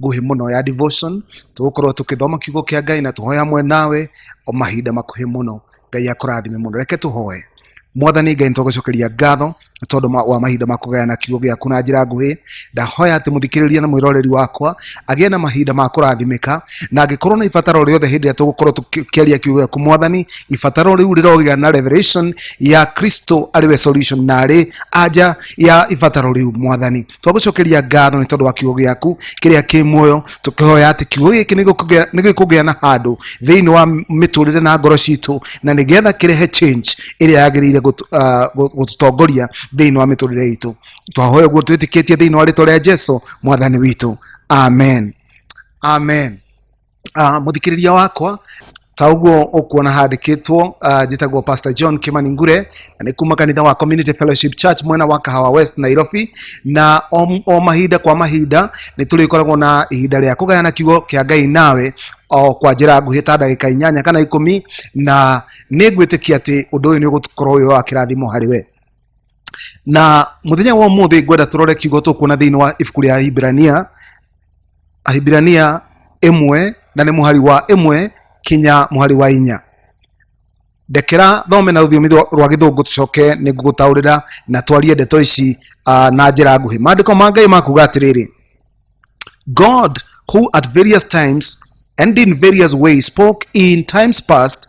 nguhĩ mũno ya devotion tũgũkorwo tũkĩthoma kiugo kĩa ngai na tũhoya hamwe nawe o mahinda makuhĩ mũno ngai akũrathime mũno reke tũhoe mwathani ngai nĩtũgũcokeria ngatho nĩ tondũ ma- wa mahinda ma kũgayana kiugo gĩaku na njĩra nguhĩ ndahoya atĩ mũthikĩrĩria na mwĩroreri wakwa agĩe na mahinda ma kũrathimĩka na angĩkorwo na ibataro rĩothe hĩndĩ ĩrĩa tũgũkorwo tũkĩaria kiugo gĩaku mwathani ibataro rĩu rĩrogĩa na revelation ya kristo arĩ we solution na arĩ anja ya ibataro rĩu mwathani twagũcokeria ngatho nĩ tondũ wa kiugo gĩaku kĩrĩa kĩ muoyo tũkĩhoya atĩ kiugo gĩkĩ nĩgĩkũgĩa- nĩgĩkũgĩa na handũ thĩinĩ wa mĩtũrĩre na ngoro citũ na nĩgetha kĩrehe change ĩrĩa yagĩrĩire gũtũ- ah, gũ- gũtũtongoria thĩinĩ wa mĩtũrĩre itũ twahoya guo twĩtĩkĩtie thĩinĩ wa rĩtwa rĩa jesu mwathani witũ amen amen uh, muthikiriria wakwa ta ũguo ũkuona handĩkĩtwo uh, njĩtagwo pastor john kimani ngure na nĩ kuma kanitha wa community fellowship church mwena wa kahawa west nairobi na o, o mahinda kwa mahinda nĩ tũrĩkoragwo na ihinda rĩa kũgayana kiugo kĩa ngai nawe o kwa njĩra nguhĩ ta ndagĩka inyanya kana ikũmi na nĩ ngwĩtĩkia atĩ ũndũ ũyũ nĩ ũgũkorwo wĩ wa kĩrathimo harĩ we na muthenya wa umuthi ngwenda turore kiugo tukuona thiini wa ibuku ria ahibirania ahibirania imwe na ni muhari wa imwe kinya muhari wa inya ndekera thome na rũthiomi rwa rwa gĩthũngũ tũcoke nĩ ngũgũtaũrĩra na twarie ndeto ici uh, na njĩra nguhĩ maandĩko ma ngai makuga atĩrĩrĩ god who at various times and in various ways spoke in times past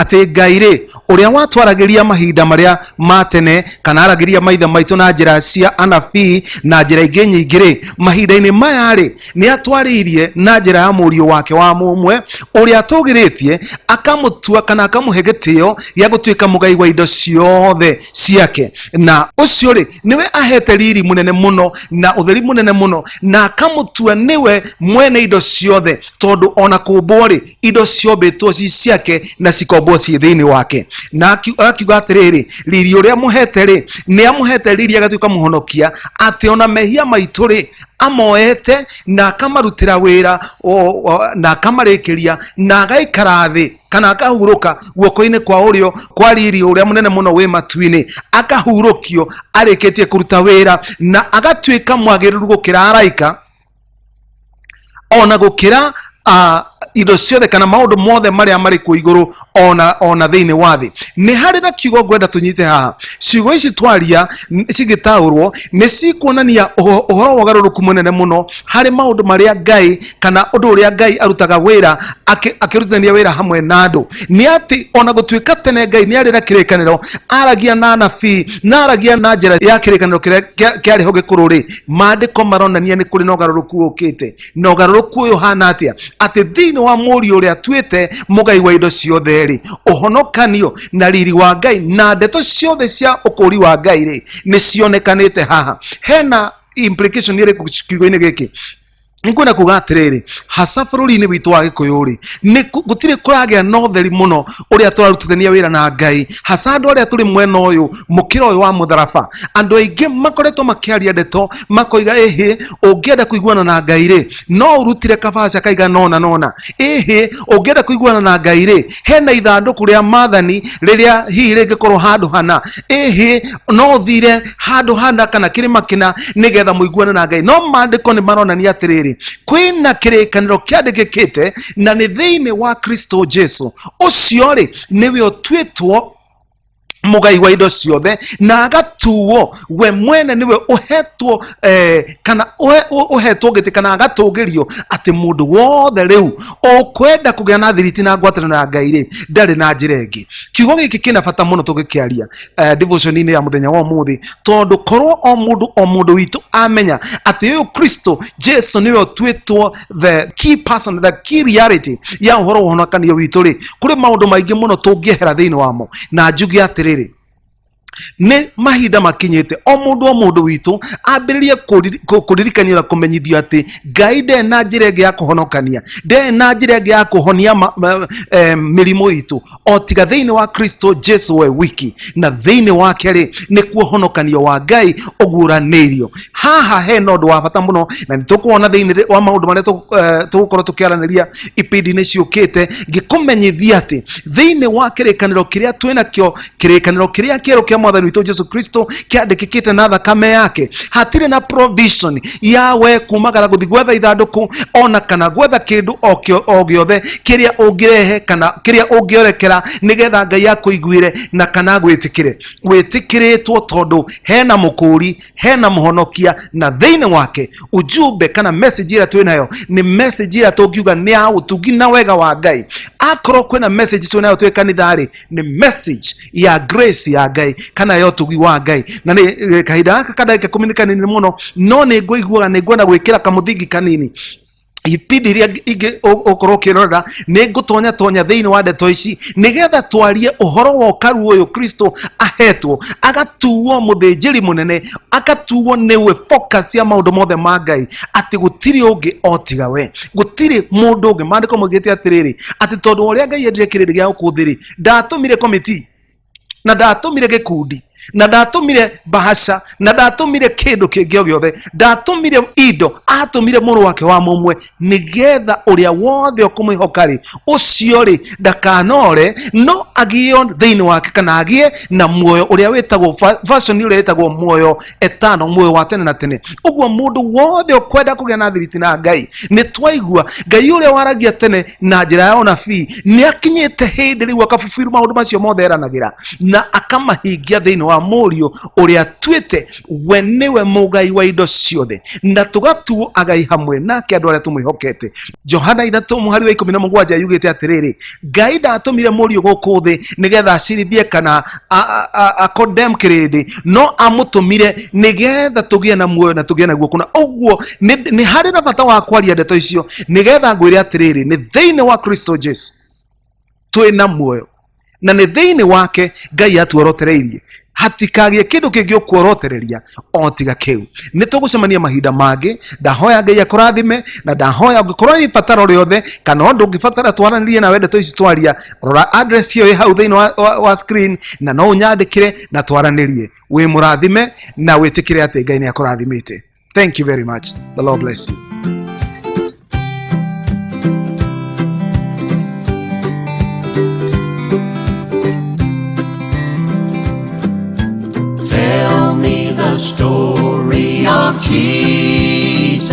atĩ ngai rĩ ũrĩa watwaragĩria mahinda marĩa ma tene kana aragĩria maithe maitũ na njĩra cia anabii na njĩra ingĩ nyingĩ rĩ mahinda-inĩ maya rĩ nĩ atwarĩirie na njĩra ya mũriũ wake wa mũmwe ũrĩa atũgĩrĩtie akamũtua kana akamũhe gĩtĩo gĩa gũtuĩka mũgai wa indo ciothe ciake na ũcio rĩ nĩwe ahete riri mũnene mũno na ũtheri mũnene mũno na akamũtua nĩwe mwene indo ciothe tondũ ona kũmbwo rĩ indo ciombĩtwo ci ciake na cikombwo ciĩ thĩinĩ wake na aki- akiuga atĩrĩrĩ riri ũrĩa amũhete rĩ nĩ amũhete riri agatuĩka mũhonokia atĩ ona mehia maitũ rĩ amoete na akamarutĩra wĩra o- o- na akamarĩkĩria na agaikara thĩ kana akahurũka guoko-inĩ kwa ũrĩo kwa riri ũrĩa mũnene mũno wĩ matu-inĩ akahurũkio arĩkĩtie kũruta wĩra na agatuĩka mwagĩrĩru gũkĩra araika ona gukira a indo ciothe kana maundu mothe maria mari ku iguru ona ona thiini wa thi ni hari na kiugo ngwenda tunyite haha ciugo ici twaria n- cigitaurwo ni cikuonania uho- uhoro wa ugaruruku munene muno hari maundu maria ngai kana undu uria ngai arutaga wira aki- akirutithania wira hamwe na andu ni ati ona gutuika tene ngai ni ari na kirikaniro aragia na anabii na aragia na njira ya kirikaniro kiria kia- kiari ho gikuru ri maandĩko maronania nĩ kũrĩ na ũgarũrũku ũkĩte na ũgarũrũku ũyũ hana atĩa atĩ thĩinĩ wa mũriũ ũrĩa atuĩte mũgai wa indo ciothe rĩ ũhonokanio na riri wa ngai na ndeto ciothe cia ũkũũri wa ngai rĩ nĩ cionekanĩte haha hena implication ĩrĩkũ kiugo-inĩ gĩkĩ nĩkwenda kuga atĩrĩrĩ haca bũrũri-inĩ witũ wa gĩkũyũ rĩ nĩ kũ- gũtirĩ kũragĩa na ũtheri mũno ũrĩa tũrarutithania wĩra na ngai haca andũ arĩa tũrĩ mwena ũyũ mũkĩra ũyũ wa mũtharaba andũ aingĩ makoretwo makĩaria ndeto makoiga ĩhĩ ũngĩenda kũiguana na ngai rĩ no ũrutire kabaca kaigana ũna nona ĩhĩ ũngĩenda kũiguana na ngai rĩ hena ithandũkũ rĩa mathani rĩrĩa hihi rĩngĩkorwo handũ hana ĩhĩ no ũthire handũ hana kana kĩrĩma kĩna nĩgetha mũiguane na ngai no maandĩko nĩ maronania atĩrĩrĩ kwĩna kĩrĩkanĩro kĩandĩkĩkĩte na nĩ thĩinĩ wa kristo jesu ũcio rĩ nĩwe ũtuĩtwo mũgai wa indo ciothe na agatuo we mwene nĩwe ũhetwo eh, kana ũhe- ũ- ũhetwo gĩtĩ kana agatũgĩrio atĩ mũndũ wothe rĩu ũkwenda kũgĩa na thiriti na ngwatanĩro ya ngai rĩ ndarĩ na njĩra ĩngĩ kiugo gĩkĩ kĩna bata mũno tũgĩkĩaria eh, devotion-inĩ ya mũthenya wa ũmũthĩ tondũ korwo o mũndũ o mũndũ witũ amenya atĩ ũyũ kristo jesu nĩwe ũtuĩtwo the key person the key reality ya uhoro wa ũhonokanio witũ rĩ kũrĩ maũndũ maingĩ mũno tũngĩehera thĩinĩ wamo na njuge atĩrĩrĩ nĩ mahinda makinyĩte o mũndũ o mũndũ witũ ambĩrĩrie kũriri- kũ- kũririkania na kũmenyithio atĩ ngai ndarĩ na njĩra ĩngĩ ya kũhonokania ndarĩ na njĩra ĩngĩ ya kũhonia ma- ma- eh, mĩrimũ itũ o tiga thĩinĩ wa kristo jesu we wiki na thĩinĩ wake rĩ nĩkuo honokanio wa ngai ũguũranĩirio haha he na ũndũ wa bata mũno na nĩtũkuona thĩinĩ rĩ- wa maũndũ marĩa tũgũ- eh, tũgũkorwo tũkĩaranĩria ibindi-inĩ ciũkĩte ngĩkũmenyithia atĩ thĩinĩ wa kĩrĩkanĩro kĩrĩa twĩ nakĩo kĩrĩkanĩro kĩrĩa kĩerũ kĩa mwathani witũ jesu kristo kĩandĩkĩkĩte na thakame yake hatirĩ na provision ya we kumagara guthi gwetha ithandũkũ ona kana gwetha kĩndũ o kĩo- o gĩothe kĩrĩa ũngĩrehe kana kĩrĩa ũngĩorekera nĩgetha ngai akũiguĩre na kana gwĩtĩkĩre wĩtĩkĩrĩtwo tondũ hena mũkũũri hena mũhonokia na thĩinĩ wake ujumbe kana message ĩrĩa twĩ nayo nĩ message ĩrĩa tũngiuga nĩ ya ũtungi na wega wa ngai akorwo kwĩna message twĩ nayo twĩ kanitha-rĩ nĩ message ya grace ya ngai kana ya ũtugi wa ngai na nĩ eh, kahinda gaka kandagĩka kũmi nĩ kanini mũno no nĩ ngũiguaga nĩ nguona gwĩkĩra kamũthingi kanini ibindi iria ingĩ ũ- ũkorwo ũkĩrorera nĩ ngũtonya tonya thĩinĩ wa ndeto ici nĩgetha twarie ũhoro wa ũkaru ũyũ kristo ahetwo agatuo mũthĩnjĩri mũnene agatuo nĩwe focus ya maũndũ mothe ma ngai atĩ gũtirĩ ũngĩ otiga we gũtirĩ mũndũ ũngĩ maandĩko maugĩte atĩrĩrĩ atĩ tondũ ũrĩa ngai endire kĩrĩrĩ gĩa gũkũ thĩ-rĩ ndatũmire komiti na ndatũmire gĩkundi na ndatũmire bahaca na ndatũmire kĩndũ kĩngĩ o gĩothe ndatũmire indo atũmire mũrũ wake wa mũmwe nĩgetha ũrĩa wothe ũkũmwĩhoka-rĩ ũcio-rĩ ndakanore no agĩe thĩinĩ wake kana agĩe na muoyo ũrĩa wĩtagwo va- version ũrĩa wĩtagwo muoyo etano muoyo wa tene na tene uguo mundu wothe ukwenda kugĩa na thiriti na ngai nĩ twaigua ngai ũrĩa waragia tene na njĩra ya ũnabii nĩ akinyĩte hĩndĩ rĩu akabubiru maũndũ macio mothe eranagĩra na akamahingia thĩinĩ wa mũriũ ũrĩa atuĩte we nĩwe mũgai wa indo ciothe na tũgatuo agai hamwe nake andũ arĩa tũmwĩhokete johana ithatũ mũhari wa ikũmi na mũgwanja yugĩte atĩrĩrĩ ngai ndatũmire mũriũ gũkũ thĩ nĩgetha acirithie kana condemn kirindi no amutumire nigetha tũgĩe na muoyo na tũgĩe naguo kuna ũguo nĩ nĩ harĩ na bata wa kwaria ndeto icio nigetha ngwĩre atĩrĩrĩ nĩ thĩinĩ wa kristo jesu twĩ na muoyo na nĩ thĩinĩ wake ngai atuorotereirie hatikagĩe kĩndũ kĩngĩ ũkuorotereria o tiga kĩu nĩ tũgũcemania mahinda mangĩ ndahoya ngai akũrathime na ndahoya ũngĩkorwo nĩ bataro rĩothe kana ũndũ ũngĩbatara twaranĩrie nawe ndeto ici twaria rora address ĩyo ĩ hau thĩinĩ wa, wa, wa screen na no ũnyandĩkĩre na twaranĩrie wĩ mũrathime na wĩtĩkĩre atĩ ngai nĩ akũrathimĩte thank you very much the lord bless you Tell me the story of Jesus.